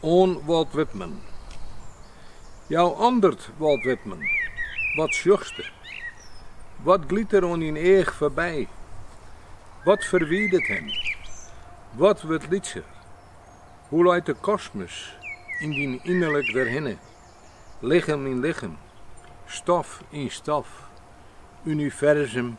Oan Walt Whitman. Jou andert, Walt Whitman, wat sjochste? Wat glyt der oan dyn each foarby? Wat ferwidet him? Wat wurdt lytser? Hoe leit de kosmos yn dyn ynnerlik derhinne? Lichem yn lichem, stof yn stof, universum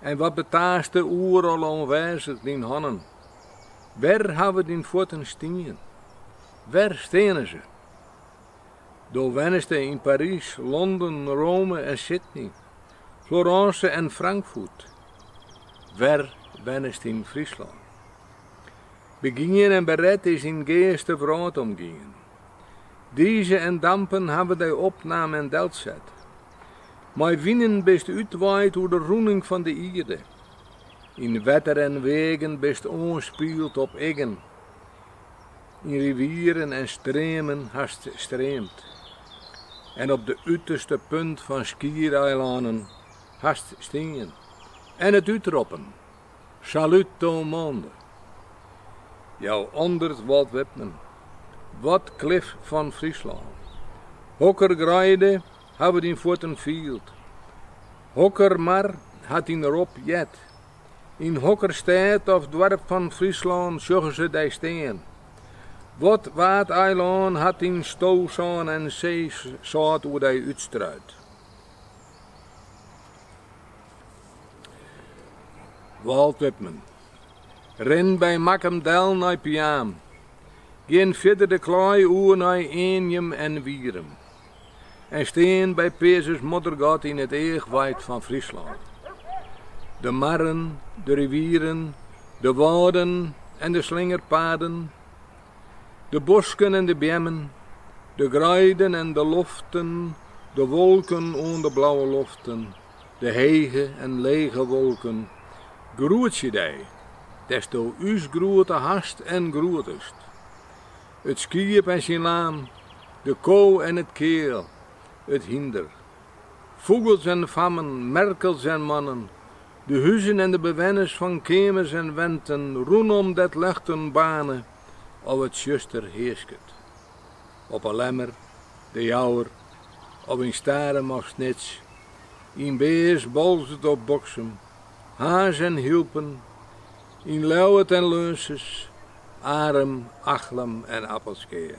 En wat betaaste oeral oanwêzich dyn hannen? Wêr hawwe dyn fuotten stien? Wêr steane se? Do wenneste yn Parys, Londen, Rome en Sydney, Florence en Frankfurt. Wêr wennest yn Fryslân? Begien en beret is dyn geast de wrâld omgien. Dize en dampen hawwe dy opnaam en delset. Mei winen bist útwaaid oer de rûning fan de ierde. Yn wetter en weagen bist oanspield op iggen. Yn rivieren en streamen hast streamd. En op de uterste punt fan skiereilannen hast stien en it útroppen. Salut au monde. Jou andert, Walt Whitman. Wat klif fan Fryslân. Hokker greide hawwe dyn fuotten field. Hokker mar hat dyn rop heard. Yn hokker stêd of doarp fan Fryslân sjogge se dy stean. Wat waadeilân hat syn stosân en seesâlt oer dy útstruid. Walt Whitman. Rin by Makkum del nei Piaam. Gean fierder de Klaai oer nei Eanjum en Wierum. En stean by Peazens-Moddergat yn it eachweid fan Fryslân. De marren, de rivieren, de wâlden en de slingerpaden. De bosken en de beammen, de greiden en de loften, de wolken oan de blauwe loften, de hege en lege wolken, groetsje dy, dêrsto ús groete hast en groetest. It skiep en syn laam, de ko en it keal, it hynder, fûgels en fammen, merkels en mannen, De huzen en de bewenners fan keamers en wenten rûnom dêr't ljochten baarne of it tsjuster hearsket. Op 'e Lemmer, De Jouwer of yn Starum of Snits, yn Bears, Boalsert of Boksum, Harns en Hylpen, yn Ljouwert en Ljussens, Arum, Achlum en Appelskea.